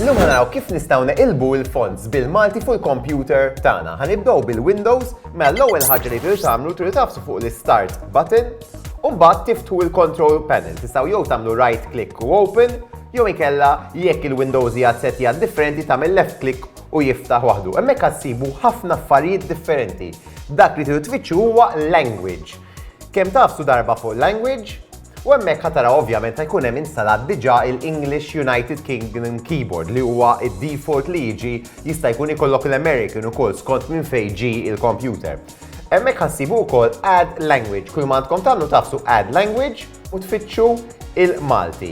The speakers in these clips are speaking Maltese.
Illum ħanaraw kif nistgħu neqilbu il-fonts bil-Malti fuq il-kompjuter tagħna. Ħanibdew bil-Windows, mela l-ewwel ħaġa li tridu tagħmlu tridu tafsu fuq l-Start button u mbagħad tiftu l-Control Panel. Tistgħu jew tagħmlu right click u open, jew ikella jekk il-Windows hija setja differenti tagħmel left click u jiftaħ waħdu. Hemmhekk ħassibu ħafna affarijiet differenti. Dak li tridu tfittxu huwa language. Kemm tafsu darba fuq language, U hemmhekk ħa taraw ovvjament ħa jkun hemm instalat diġà il-English United Kingdom keyboard li huwa id-default li jiġi jista' jkun ikollok l-American ukoll skont minn fejn ġi il-computer. Hemmhekk ħassibu wkoll add language, kull ma għandkom tagħmlu tafsu add language u tfittxu il-Malti.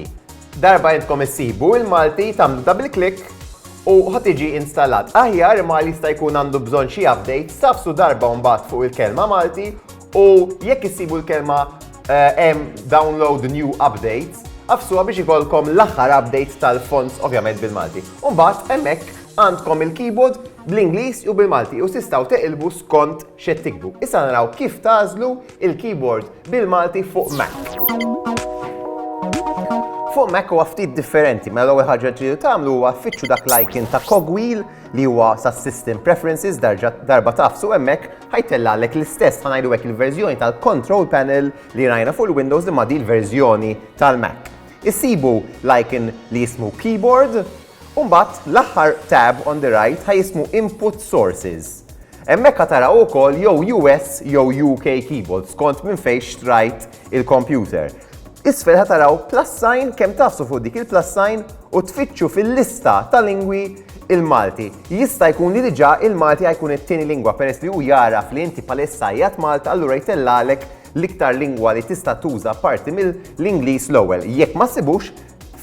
Darba intkom issibu il-Malti tagħmlu double click u ħa tiġi instalat. Aħjar imma jista' jkun għandu bżonn xi updates tafsu darba mbagħad fuq il-kelma Malti U jekk issibu l-kelma hemm eh, download new updates, għafsuha biex ikolkom l-aħħar updates tal-fonts ovvjament bil-Malti. Umbat, emmek għandkom il-keyboard bl-Inglis u bil-Malti u sistaw teqilbu skont xed tikbu. Issa naraw kif tażlu il-keyboard bil-Malti fuq Mac. Fuq Mac huwa ftit differenti, ma mela l-ewwel ħaġa ġidu tagħmlu huwa fitxu dak l-icon ta' cogwheel li huwa sa system preferences darba tafsu hemmhekk ħajtellaqlek l-istess ħanajdu hekk il-verżjoni tal-control panel li rajna fuq il-Windows imma di l-verżjoni tal-Mac. Issibu l-icon li jismu keyboard u mbagħad l-aħħar tab on the right ħaj jismu input sources. Hemmhekk ħataraw ukoll jew US jew UK keyboard skont minn fejn xtrajt il-computer. Isfel ħataraw plus sign kemm tafsu fuq dik il-plus sign u tfittxu fil-lista tal-lingwi il-Malti. Jista' jkun li diġà il-Malti ha jkun it-tieni lingwa peress li hu jagħraf li inti bħalissa qiegħed Malta allura jtellagħlek l-iktar lingwa li tista' tuża apparti mill-Ingliż l-ewwel. Jekk ma ssibux,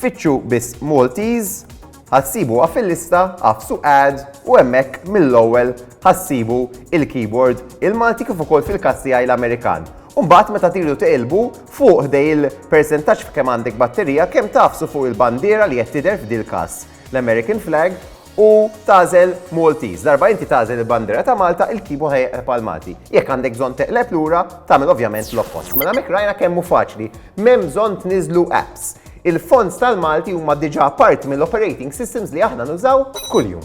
fittxu biss Maltese, ha ssibu ha fil-lista, agħfsu Add u hemmhekk mill-ewwel ha ssibu il-keyboard il-Malti kif ukoll fil-każ tiegħi l-Amerikan. U mbagħad meta tridu tiqilbu, fuq ħdej il-persentaġġ f'kemm għandek batterija, kemm tagħfsu fuq il-bandiera li qed tidher f'dil-każ. l-American flag u tagħżel Maltese. Darba inti tagħżel il-bandiera ta' Malta, il-keyboard ħajqleb għal Malti. Jekk għandek bżonn teqleb lura, tagħmel ovvjament l-oppost. Mela mek rajna kemm hu faċli. M'hemm bżonn tniżlu apps. Il-fonts tal-Malti huma diġà parti mill-operating systems li aħna nużaw kuljum.